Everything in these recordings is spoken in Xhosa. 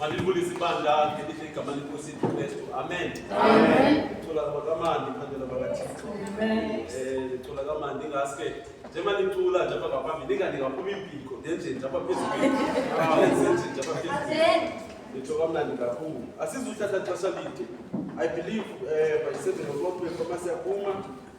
Malibuli sibandla ngelihle igama lenkosi Kristu. Amen. Amen. Icula kabakamandi iphandela bakaThixo. Amen. Eh icula kamandi ngaske njengoba nicula nje apha ngaphambi ninganikaphumi impiko ndenje nje apha phezulu. Ndenje nje nje apha phezulu. Nitsho kamnandi kakhulu. Asizuthatha xesha lide. I believe eh by 7 o'clock before masiyaphuma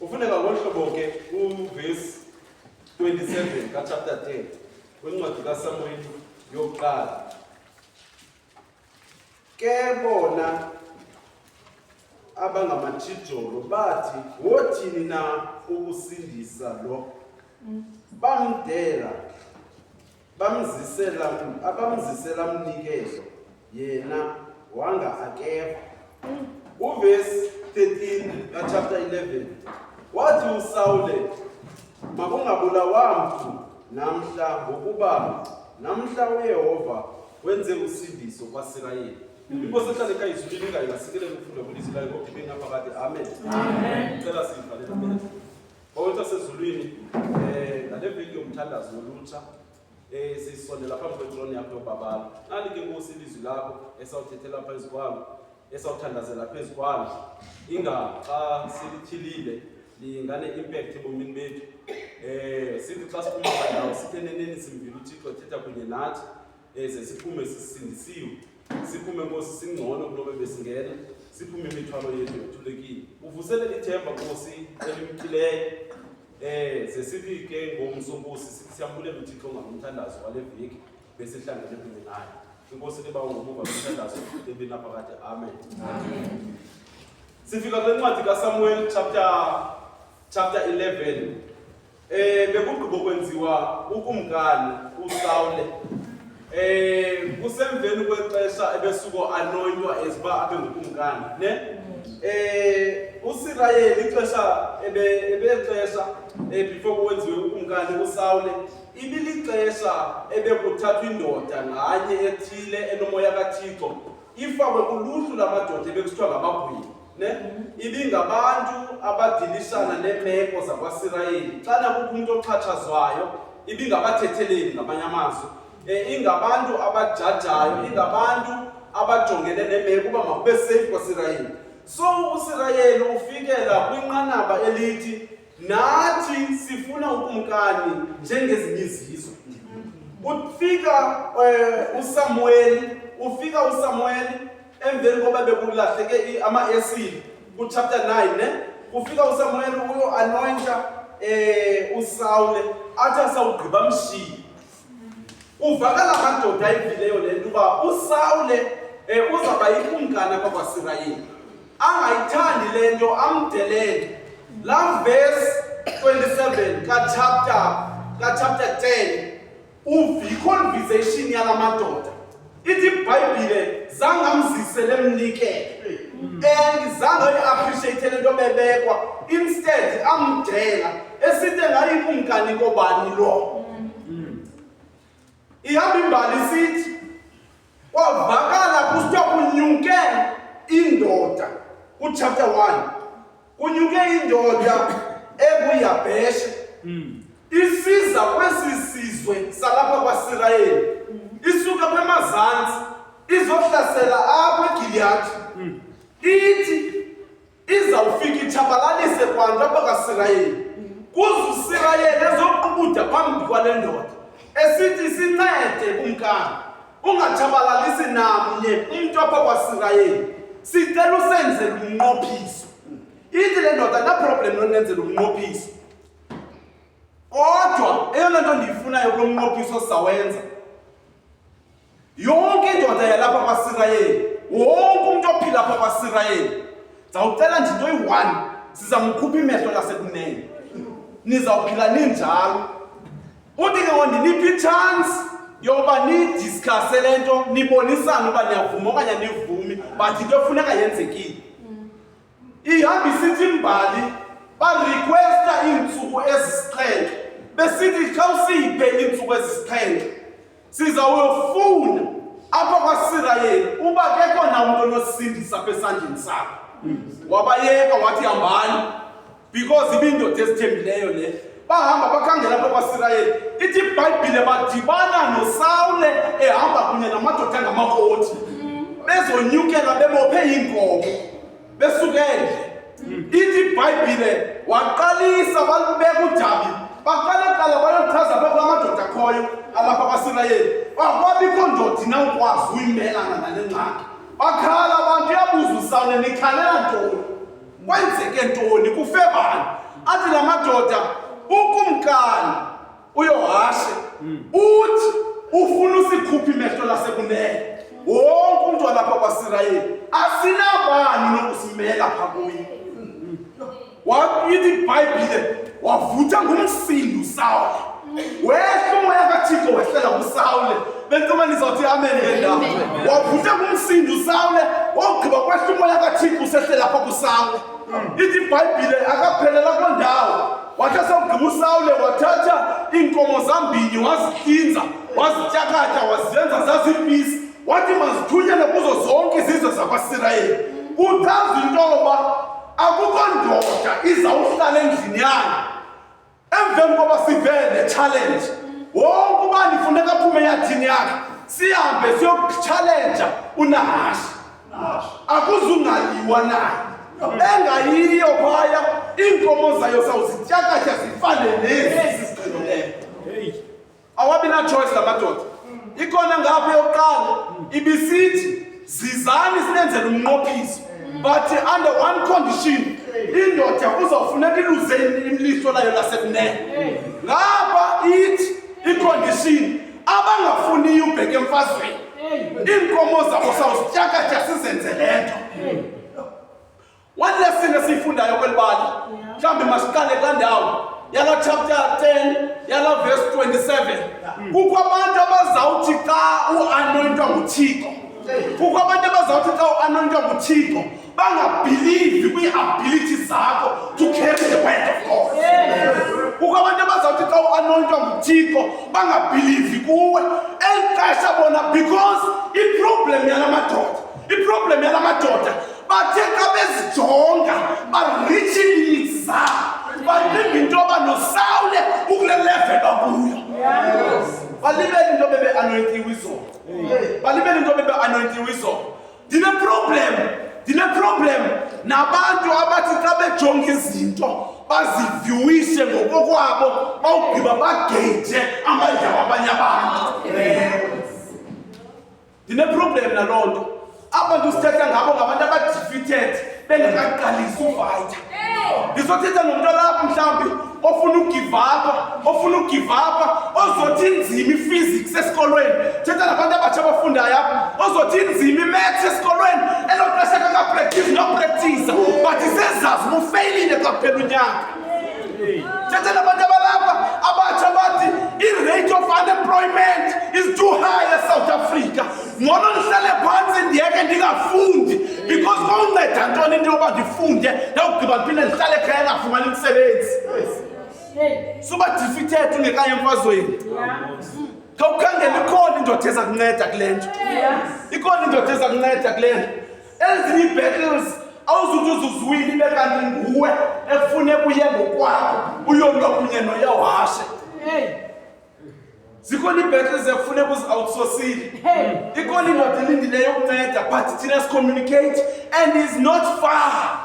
Ufuneka ngolu hlobo ke uvesi 27 kachapter 10 wencwadi kaSamuweli yokuqala. Ke bona abangamatshijolo bathi wothini na ukusindisa lo bamdela bamzisela abamzisela mnikezo yena wanga akeva uvesi 13 kachapter 11 wathi usawule makungabulawa mntu namhla ngokuba namhla uyehova wenze usindiso kwasirayeli inkosi ehlale kayizulile ingayilasikele kufunda kulizwi layo ngokuthi bengaphakade amen cela sivalele Bawethu asezulwini eh ngale video umthandazo wolutsha eh sisondela phambi kwetroni yakho yobabalo nali ke nkosi ilizwi lakho esawuthethela phezu kwalo esawuthandazela phezu kwalo inga xa silityhilile lingane impact ebomini bethu eh sithi xa siphuma ndawo sitheneneni simvile uthixo ethetha kunye nathi eze siphume sisindisiwe siphume nkosi singcono kunobe besingena siphume imithwalo yethu yothulekile uvusele ithemba nkosi elimkileyo um ze sithi ke ngomso nkosi siyabulela uthixo ngalomthandazo wale veki besihlangene kunye naye inkosi liba ungomuva lomthandazo ebinaphakade amen, amen. sifika kule ncwadi kasamuel chapter chapter 11 Eh bekugqiba ukwenziwa ukumkani uSawule. Eh kusemveni kwexesha ebesuko anonywa eziba abe ngukumkani, ne? Eh uSirayeli ixesha ebe ebexesha eh before kwenziwe ukumkani uSawule ibilixesha ebekuthathwa indoda nganye ethile enomoya kaThixo ifakwe kuluhlu lamadoda ebekusithiwa ngamagwini. ne ibingabantu abadilisana neemeko zakwaSirayeli xana kukho umntu oxhatshazwayo ibingabathetheleli ngamanye amazwi um ingabantu abajajayo ingabantu abajongene neemeko uba makube seyifu kwaSirayeli so uSirayeli ufikela kwinqanaba elithi Nathi sifuna ukumkani njengezinye izizwe. Ufika eh, uSamuel, ufika uSamuel emveni koba bekulahleke ama-esile kuchapter 9 ne kufika uSamuel uyo anointa eh uSawule athi asawugqiba mshiyi Uvakala amadoda ayivileyo le nto uba uSawule um uzawuba yikumkani apha kwaSirayeli, angayithandi le nto amdelele. Laa vesi 27 kachapta kachapta 10 uvikho conversation yala madoda ithi ibhayibhile zange amzisele emnikele and zange ayi-appreciate le nto bebekwa instead amdela esithe ngayikumkani kobani lo ihamba imbali sithi kwavakala kusithiwa kunyuke indoda kuchapter 1 Kunyuke indoda enguYabheshe mm. isiza kwesi sizwe salapha kwaSirayeli mm. isuka kwemazantsi izohlasela apha eGiliyadi mm. ithi izawufika itshabalalise kwantu apha kaSirayeli mm. kuze uSirayeli ezoqubuda phambi kwale ndoda esithi sincede kumkani ungatshabalalisi namnye umntu apha kwasirayeli sicela usenzela umnqophiso ithi le ndoda naproblem lonenzela umnqophiso kodwa eyona nto ndiyifunayo kulo mnqophiso sawenza yonke indoda yalapha kwasirayeli wonke umntu ophila apha kwasirayeli ndizawucela nje into eyi-one sizamkhupha imehlo lasekunene nizawuphila ninjalo Uthi ke wandiniphi i-chance yokuba nidiskhase le nto nibonisane uba niyavuma okanye anivumi but into efuneka yenzekile ihamba isithi imbali barequesta iintsuku ezisixhenxe besithi xa usiyiphe iintsuku ezisixhenxe sizawuyofuna apha kwasirayeli uba kekho na umntu onosindisa apha esandleni sakho wabayeka wathi hambani because ibindoda ezithembileyo le bahamba bakhangela apha kwasirayeli ithi ibhayibhile badibana nosawule ehamba kunye namadoda angamakoti bezonyukela bebophe iinkomo besukele ithi ibhayibhile waqalisa balibeka udabi baqale qala bayochaza phezu kwamadoda akhoyo alapha kwasirayeli wakwabikho ndodi na ukwazi uyimelana nale ngxaki bakhala abantu yabuza usawule nikhalela ntoni kwenzeke ntoni kufe bani athi la madoda ukumkani uyohashe hmm. uthi ufuna usikhuphe imehlo lasekunene wonke umntu walapha kwasirayeli asinabani nokusimela pha kuye wayithi ibhayibhile wavutha ngumsindo usawule wehla umoya kathixo wehlela kusawule bentombani izawuthi amen ngendawo wavutha ngumsindo usawule wawugqiba kwehla umoya kathixo usehlela pha kusawule ithi ibhayibhile akaphelela kwendawo wathasa ugqiba usawule wathatha iinkomo zambini wazityinza wazityakatya waziyenza zazipisi wathi mazithunyele kuzo zonke izizwe zakwasirayeli uchaza into yoba akukho ndoda izawuhlala endlini yayo emveni koba sivele le challenge wonke ubani funeka aphume eyathini yakhe sihambe siyokutshalenja unahashi akuzungayiwa nayo engayiyo phaya iinkomo zayo sawuzityakatya zifane nezi ziqinileyo awabi natshoyisi la madoda ikhona ngapha yokuqala ibisithi zizani sinenzela umnqophiso but under one condition indoda uzawufuneka iluze imliso layo lasekunene ngapha ithi icondition abangafuniyo ubheke emfazweni iinkomo zabo sawusityakatsha sizenze le nto one lesson esiyifundayo kweli bali mhlawumbi masiqale kula ndawo yala chapter 10 yala verse 27 kukho abantu abazawuthi xa uanointwa nguthixo kukho abantu abazawuthi xa uanointwa nguthixo bangabhilivi kwii-ability zakho to carry the word of god kukho abantu abazawuthi xa uanointwa nguthixo bangabhilivi kuwe eli xesha bona because iproblem yala madoda iproblem yala madoda bathe xa bezijonga barichi ilimits zabo bacinga into yoba nosawule ukule level bakuyo balibele into bebe anointiwe izolo balibele into bebe anointiwe izolo Ndine problem, ndine problem nabantu abathi xa bejonga izinto bazivyuwise ngokokwabo bawugqiba bageyithe amandla wabanye abantu. Ndine problem naloo nto. Abantu sithetha ngabo ngabantu abadifithethe bengakaqalisi ufayitha ndizothetha nomntu alapha mhlawumbi ofuna ugivapha ofuna ugivapha ozothi inzima iphysics esikolweni thetha nabantu abatsha abafundayo apha ozothi inzima imaths esikolweni elo xesha kakapractise nopractisa but isezazi ubufeyilile kwakuphela unyaka Chetela bata balapa abatsha bathi i-rate of unemployment is too high eSouth Africa. Ngcono ndihlale phantsi ndiyeke ndingafundi because kowunceda ntoni into yoba ndifunde ndawugqiba ndiphinde ndihlale ekhaya engafumani umsebenzi. Suba defeated ungekayo emfazweni. Khawukhangele ikhona indoda eza kunceda kule nto. Ikhona indoda eza kunceda kule nto. Ezinye ii-battles awuzuthi uzuziwile ibe kanti nguwe ekufune kuye ngokwakho uyolwa kunye noyawashe Hey. zikhona ii-battles ekufune kuzi-outsosile ikhona indoda elindileyo ukunceda but thina sicommunicate and is not far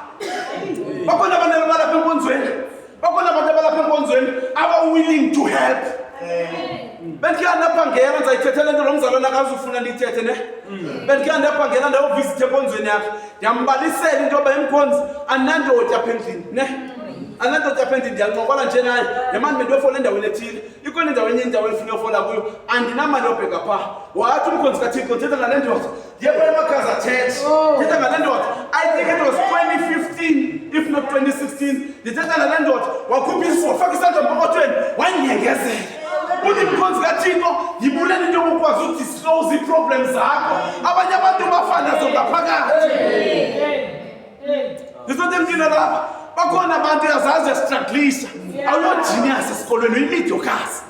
bakhona abantu ababalapha enkonzweni bakhona abantu abalapha enkonzweni aba-willing to help bendikhe ndabhangela ndizayithethela into lo mzalwana akazufuna ndiyithethe ne mm. bendikhe ndabhangela ndayovisithe enkonzweni yakhe ndiyambalisela into yoba emkhonzi anandodi apha endlini ne anandodi apha endlini ndiyancokola nje naye nemani bendiyofola endaweni ethile ikhona indawo enye indawo endifuna yofola kuyo andinamali yobheka phaa wathi umkhonzi kathixo ndithetha ngale ndoda Oh. Ndithetha ngale ndoda. I think it was 2015 if not 2016. Ndithetha ngale ndoda. Wakhupha isiso, wafaka isandla empokothweni, wanyengezela. Uthi mkhonzi kaThixo, yibulele into yokukwazi udisclose ii-problems zakho. Abanye abantu bafa nazo ngaphakathi. Ndizothi mntwini lapha bakhona abantu yazazi yasitraglisa awuyojiniyasi esikolweni uyimidyokasi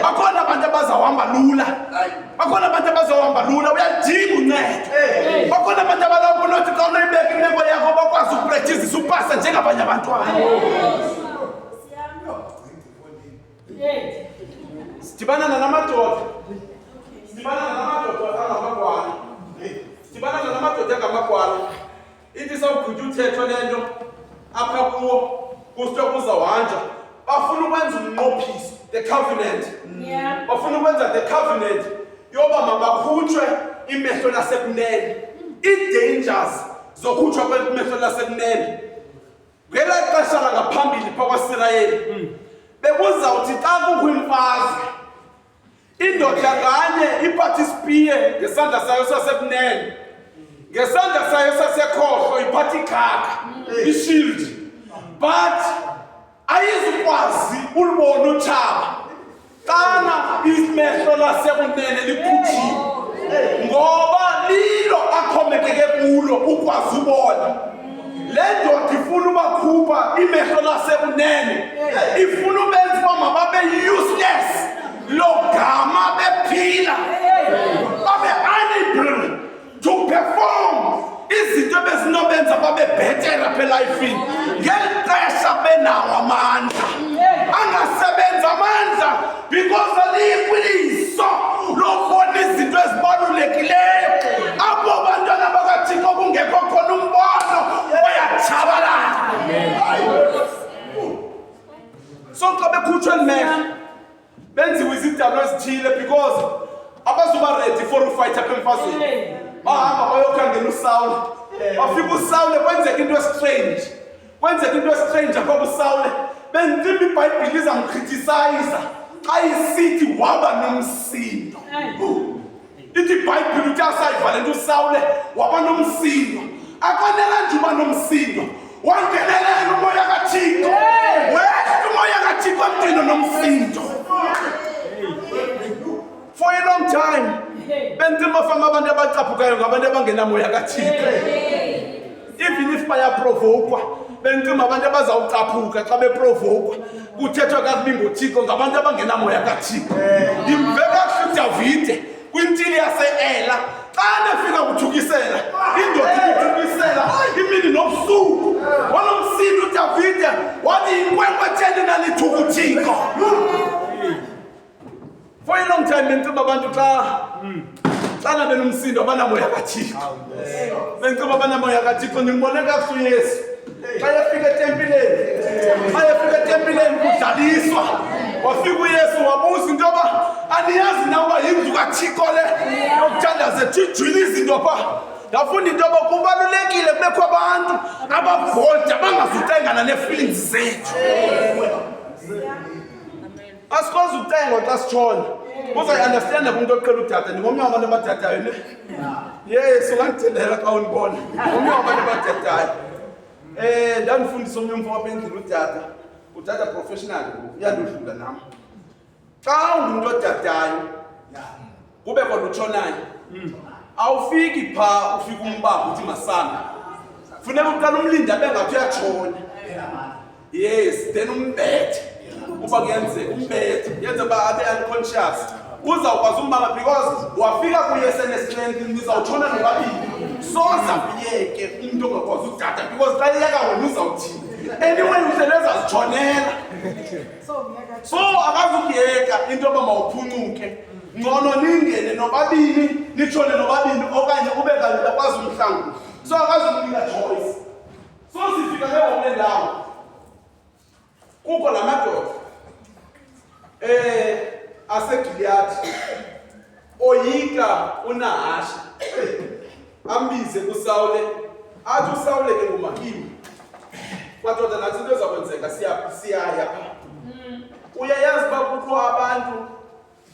bakhona abantu abazawuhamba lula bakhona abantu abazawuhamba lula uyalidinga uncedo bakhona abantu abalapho nothi xa unoyibeka imeko yakho bakwazi ukuprethizisa upasa njengabanye abantwana Sitibana na namadoda. Sitibana na namadoda angamakwana. Sitibana na namadoda angamakwana. Ithi sawugqitha uthetho lento apha kuwo kustwa kuza wanja. Bafuna ukwenza umnqophiso the covenant. Yeah. Bafuna ukwenza the covenant yoba mabakhutshwe imehlo lasekunene. Ii-dangers zokhutshwa kwemehlo lasekunene. ngela xesha langaphambili phakwaisirayeli mm. bekuzawuthi xa kukho imfazwe indoda nganye iphathe isipiye ngesandla sayo sasekunene ngesandla sayo sasekhohlo iphathe ikhaka mm. ishield but ayizukwazi ulibona utshaba Xana imehlo lasekunene likhutshiwe ngoba lilo axhomekeke kulo ukwazi ubona le ndoda ifuna ubakhupha imehlo lasekunene ifuna ubenza uba mababe useless lo gama bephila to perform izinto ebezinobenza babe bhetera phe lifini ngeli xesha benawo amandla angasebenza amandla because aliyikwiliso lokubona izinto ezibalulekileyo apho bantwana bakathixo kungekho khona umbono bayatshabalala so xa bekhutshwa elimehlo benziwe izidalwa ezithile because abazuba ready for ufight apha emfazweni bahamba bayokhangela usawule bafika usawule kwenzeka into estrange kwenzeka into estrange apha kusawule bentima ibhayibhile izamkrithisayiza xa isithi waba nomsindo ithi ibhayibhile uthi asayivale nto usawule waba nomsindo akwanela nje uba nomsindo wangenelela umoya kathixo wehla umoya kathixo emntwini nomsindo for a long time bentima fama abantu abacaphukayo ngabantu abangenamoya kathixo even if bayaprovokwa bentima abantu abazawucaphuka xa beprovokwa kuthethwa kakubi ngothixo ngabantu abangenamoya kathixo ndimve kakuhle udavide kwintili yase-ela xa nefika kuthukisela indoda ikuthukisela imini nobusuku wanomsini udavide wathi yinkwenkwe theni nalithukuthixo For a long time bendiceba abantu xa xana benomsindo abanamoya kathixo bendiceba abanamoya kathixo ndimbone kakuhle uyesu xa yefika etempileni xa yefika etempileni kudlaliswa wafika uyesu wabuza into yoba aniyazi na uba yindlu kathixo le yokuthandaze thijwile izinto pha ndafunda into yoba kubalulekile kubekho abantu abavolta bangazutengana nee-feelings zethu asikwazi ukucengwa xa sitshona uzayiunderstanda kumntu oqhela udada ndingomnye wabantu abadadayo ne yes ungandithelela xa undibona ngomnye wabantu abadadayo um ndandifundisa omnye umfo wapha endlini udada udada professional uyandodlula nam xa ungumntu odadayo kube kodwa utshonayo mm. awufiki phaa ufika umbamba uthi masana funeka uqala umlindi abe ngathi uyatshona yes then umbethe uba kuyenzeka umbethe yenze uba abe unconscious uzawukwazi umbamba because wafika kuye senestrength nizawutshona nobabili soza kuyeke umntu ongakwazi udada because xa iyeka wena uzawuthini anyway uselezazitshonela so akazukuyeka into yoba mawuphuncuke ngcono ningene nobabini nitshone nobabini okanye ube kanti akwazi umhlangulo so akazukunika choice so sifika ke ngokule ndawo kukho la madoda um asegiliyadi oyika unahashi ambize kusawule athi usawule ke ngumahini kwadoda nathi into ezakwenzeka siyaya pha mm. uyayazi uba kukho abantu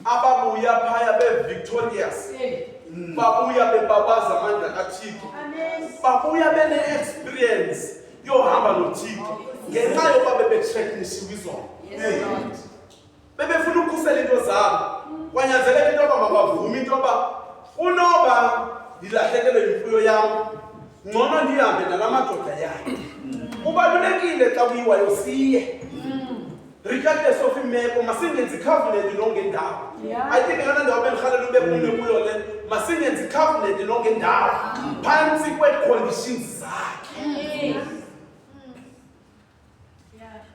ababuya phaya be-victorious mm. babuya bebabaza amandla kathixo babuya bene-experience yohamba nothixo ngenxa yokuba bebetsheknishiwe izona bebefuna ukukhusela into zabo kwanyanzeleka into yoba mabavume into yoba unoba ndilahlekelwe yimfuyo yam ngcono ndihambe nala madoda yakhe kubalulekile xa kuyiwayo siye regardless of imeko masingenzi covenant lonke ndawo i think yona ndawo bendirhalela ube umnwe kuyo le masingenzi covenant lonke ndawo phantsi kwee-conditions zakhe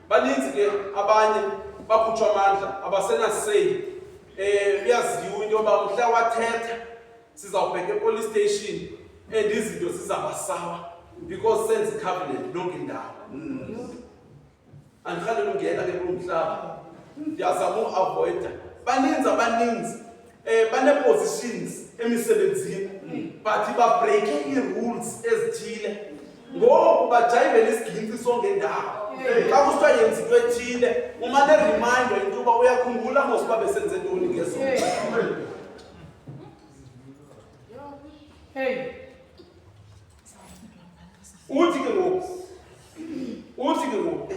baninzi ke abanye bakhutshwa amandla abasenaseli um eh, uyaziwa into yoba mhla wathetha sizawubheka epolice station and izinto zizabasawa because senze icovenant lonke indawo andikhalele ungena ke kulo mhlaba ndiyazama uavoyida baninzi abaninzi eh bane-positions emisebenzini but babreake ii-rules ezithile ngoku bajayivela isigintsi songendawo xa kusithiwa yenza into ethile umane reminder into yoba uyakhumbula mos uba besenze ntoni ngezo uthi ke ngoku uthi ke ngoku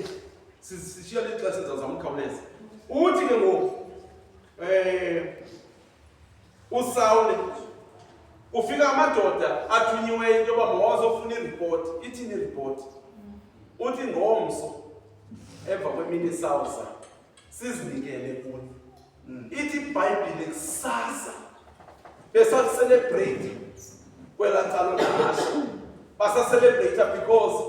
sishiya lixesha ndizazama ukhawuleza uthi ke ngoku Eh, usawule kufika amadoda athunyiweyo into yoba mawazofuna iripoti ithini iripoti uthi ngomso emva kwemini sawuza sizinikele kuni mm. ithi ibhayibhile kusasa besaliselebrate kwela calo nahasha basaselebrate because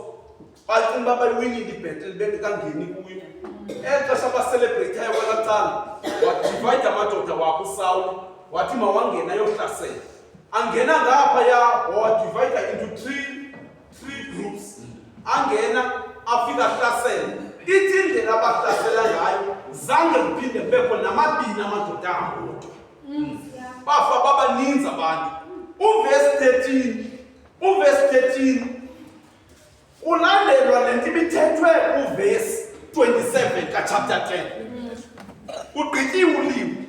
bacinga uba bayiwinile ibhetele bendikangeni kuyo eli xesha baselebreyithayo kwela cala wadivayide amadoda wakho usawula wathi mawangena ayohlasela angena ngapha ya wadivayida into three three groups angena afika ahlasela ithi indlela abahlasela ngayo zange kuphinde kubekho namabini amadoda ahamodwa mm, bafa babaninzi abantu uvesi 13 uvesi 13 Kulandelwa le nto ibithethwe kuvesi 27 kachapter 10 kugqityiwe ulimi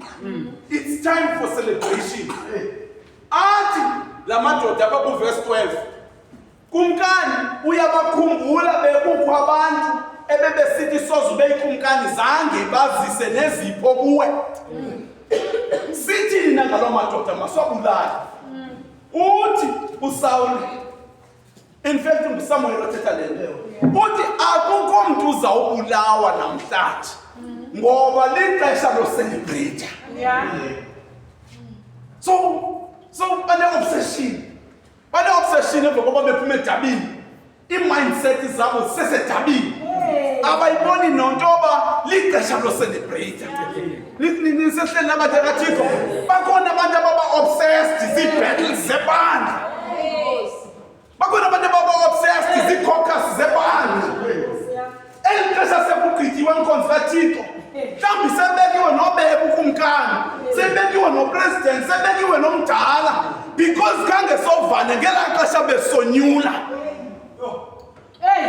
it's time for celebration athi la madoda abakuvesi 12 kumkani uyabakhumbula bekukho abantu ebebesithi soze ube ikumkani zange bazise nezipho kuwe sithini nangaloo madoda maswabulali uthi usawule In fact, nguSamuel othetha le nto. Uthi akukho mntu uzawubulawa namhlanje ngoba lixesha loselebreyitha. So so bane-obsession bane-obsession emva koba bephuma edabini iimindset zabo sesedabini abayiboni nonto yoba lixesha loselebreyitha. Nisehlela abathakathixo bakhona abantu ababa-obsessed zii-battles zebandla bakhona abantu ababa-obsessed zii-cocus zebandla eli xesha sekugqityiwe enkonzi kathixo mhlawumbi sebekiwe nobeka ukumkani sebekiwe nopresident sebekiwe nomdala because khange sovane ngelaa xesha besonyula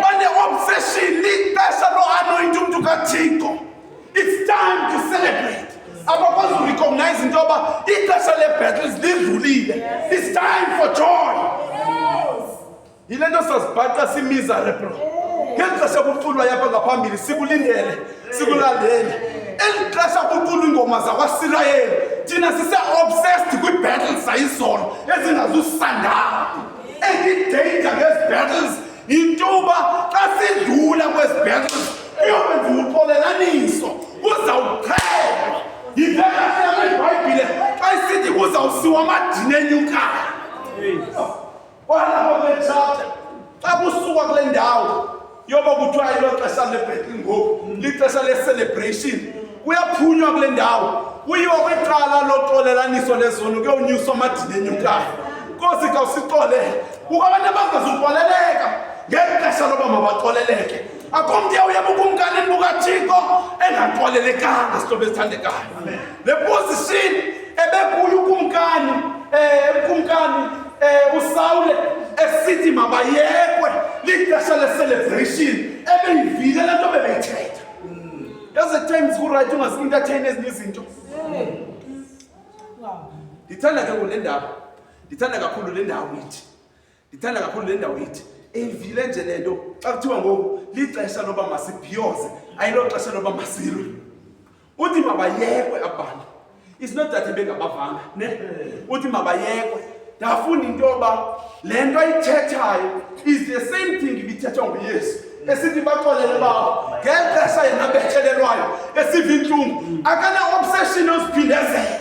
Bane obsession lixesha loanointa umntu kathixo it's time to celebrate abakwazi urecognize into yoba ixesha lebattles lidlulile it's time for joy yile nto sazibhaqa simiserable ngeli xesha kuculwa yapha ngaphambili sikulindele sikulandele eli xesha kuculwa iingoma zakwasirayeli thina sise-obsessed kwiibattles zayizolo ezingazusandawo Any danger ngezi battles yinto uba xa sidlula kwezi battles uyokwenza uxolelaniso kuzawuqhelwa yivekahlelwa ibhayibhile xa isithi kuzawusiwa amadini enyukayo kwalapha kule chapter xa kusukwa kule ndawo yoba kuthiwa ilo xesha lebhetli ngoku lixesha le-celebration kuyaphunywa kule ndawo kuyiwa kwicala loxolelaniso lezono kuyonyuswa amadini enyukayo nkosi khawusixolele kuko abantu abangazuxoleleka ngeli xesha loba mabaxoleleke akho mntu yawuye bukumkanini bukathixo engaxolelekanga sihlobo esithandekayo Le position ebekulu kumkani eh kumkani eh uSawule esithi mabayekwe lixesha le celebration ebeyivile lento bebeyithetha. There's a times ku right ungazi entertain ezinye izinto. Wow. Ndithanda ke kule ndawo. Ndithanda kakhulu le ndawo ithi. ndithanda kakhulu le ndawo ithi eyivile nje le nto xa kuthiwa ngoku lixesha loba masibhiyoze ayilo xesha loba masilwe uthi mabayekwe abantu it's not that bengabavanga ne uthi mabayekwe ndafunda into yoba le nto ayithethayo is the same thing ibithethwa nguyesu esithi baxolele babo ngeli xesha yena bethelelwayo esiva intlungu akane-obsession oziphindezela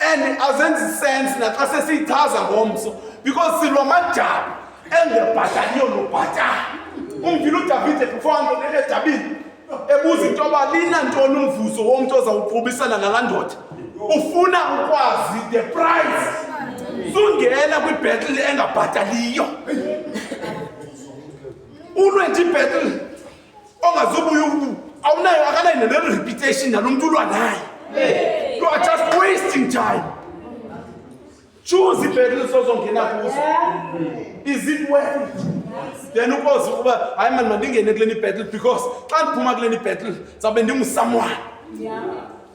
and azenzi sense naxa sesiyichaza ngomso because silwa amajaba engebhataliyo nobhatala umvile udavide kufanto nedabini ebuza into yoba linantoni umvuzo womntu ozawuqhubisana nalaa ndoda ufuna ukwazi the price sungena kwibhetile engabhataliyo ulwe nje ibhetile ongazobuya ubu awunayo akanayo nelo reputation nalo mntu ulwa naye you are just wasting time choose ibhetele usozongena kuzo is it worth it then ukwazi ukuba hayi mani mandingene kule nibhettle because xa ndiphuma kule nibhettle zawube ndingusamwana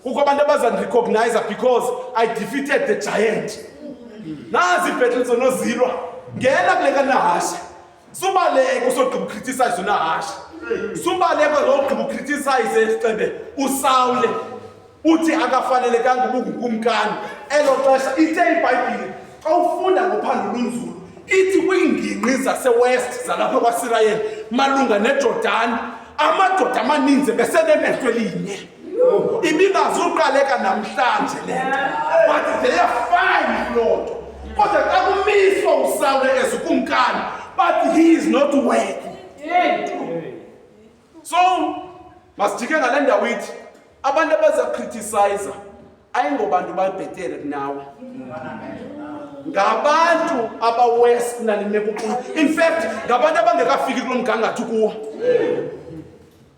kukho abantu abazandirecognize because i defeated the giant nazi ibhettle zonozilwa ngena kule kanahashe subaleke usogqiba ukriticize unahashe subaleke zogqiba ukriticize isixebe usawule uthi akafanelekanga ubungukumkani elo xesha ithe ibhayibhile xa ufunda ngophando lunzulu ithi kwiingingqi zasewest zalapha kwasirayeli malunga nejordani amadoda amaninzi besenemehlo elinye ibibazuqaleka namhlanje le nto but they are fine kuloo nto kodwa xa kumiswa usawule ezikumkani but he is not worthy so masijike ngale ndawo ithi abantu abaza criticize ayingobantu babhetere kunawe ngabantu abawest nalimekuqulu in fact ngabantu abangekafiki kulo mgangatho kuwo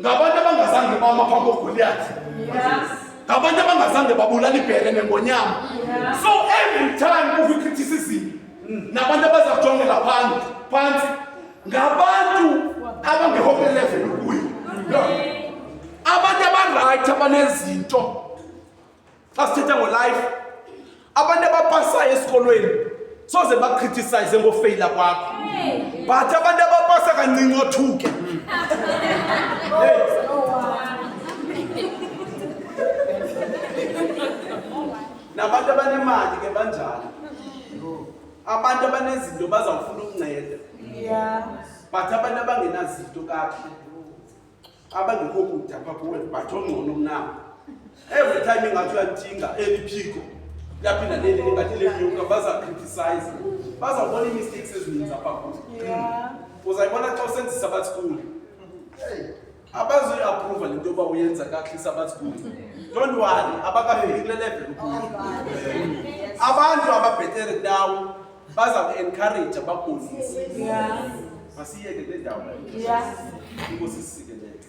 ngabantu abangazange bama phambi kogoliyathi ngabantu abangazange babulala ibhere nengonyama so every time uvikritisism nabantu abaza kujongela phansi phansi ngabantu abangekho kwelevel ukuyo abantu abarayithi abanezinto xa sithetha ngolife abantu abapasayo esikolweni soze bakritisize ngofeyila kwakho but abantu abapasa kancinci othuke nabantu abanemali ke banjalo abantu abanezinto bazawufuna ukunceda but abantu abangenazinto kakuhle abangekho kude apha kuwe but ongcono mnam every time ingathi uyalithinga eli phiko laphinda leli lingathi lenyuka bazakritisize bazawubona ii-mistakes ezininzi apha kuwe uzayibona xa usenzisa abathi kuwe abazoyiaprova le nto yoba uyenza kakuhle isabathi kuwe don't worry abakafiki kule level kuyo abantu ababhetere kunawo baza ku-encouraja bakuzise masiyeke kule ndawo inkosi sisike lethu